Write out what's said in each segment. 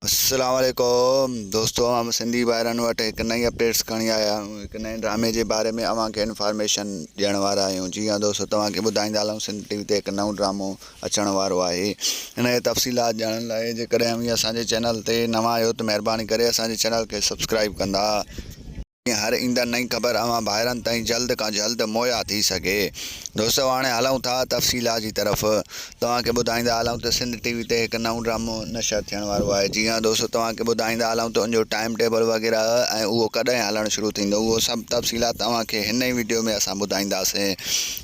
السلام عليڪم دوستو اوهان سنڌي ڀائرن وٽ هڪ نئين اپڊيٽس کڻي آيا آهيون هڪ نئين ڊرامي جي باري ۾ اوهان کي انفارميشن ڏيڻ وارا آهيون جي ها دوستو توهان کي ٻڌائيندا هلون سنڌ ٽي وي تي هڪ نئون ڊرامو اچڻ وارو آهي ان جي تفصيلات ڄاڻڻ لاء جيڪڏهن اوهين اسان جي چينل تي نوان آهيو ته مهرباني ڪري اسان جي چينل کي سبسڪرائب ڪندا جيئن هر ايندڙ نئين خبر اوهان ڀائرن تائين جلد کان جلد مهيا ٿي سگهي. دوستو هاڻي هلون ٿا تفصيلات جي طرف. توهان کي ٻڌائيندا هلون ته سنڌ ٽي وي تي هڪ نئون ڊرامو نشر ٿيڻ وارو آهي. جي ها دوستو توهان کي ٻڌائيندا هلون ته ان جو ٽائيم ٽيبل وغيره ۽ اهو ڪڏهن هلڻ شروع ٿيندو اهو سڀ تفصيلات اوهان کي هن ئي وڊيو ۾ اسان ٻڌائينداسين.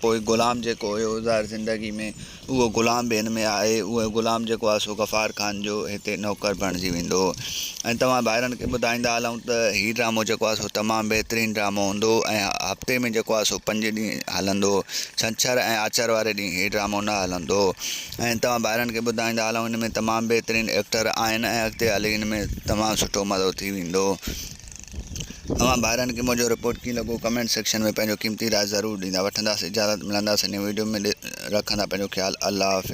پوء غلام جيڪو هيو ظاهر زندگي ۾ اهو غلام به هن ۾ آهي اهو غلام جيڪو آهي سو غفار خان جو هتي نوڪر بڻجي ويندو ۽ توهان ڀائرن کي ٻڌائيندا هلون ته هي ڊرامو جيڪو آهي سو تمام بهترين ڊرامو هوندو ۽ هفتي ۾ جيڪو آهي سو پنج ڏينهن هلندو ڇنڇر ۽ آچر واري ڏينهن هي ڊرامو نه هلندو ۽ توهان ڀائرن کي ٻڌائيندا هلون هن ۾ تمام بهترين ايڪٽر آهن ۽ اڳتي هلي هن ۾ تمام سٺو مزو ٿي ويندو اوهان ڀائرن کي منهنجو رپورٽ ڪيئن لڳو ڪمينٽ سيڪشن ۾ پنهنجو قيمتي راء ضرور ڏيندا وٺنداس اجازت ملنداس نئين ويڊيو ۾ رکندا پنهنجو خيال الله حافظ.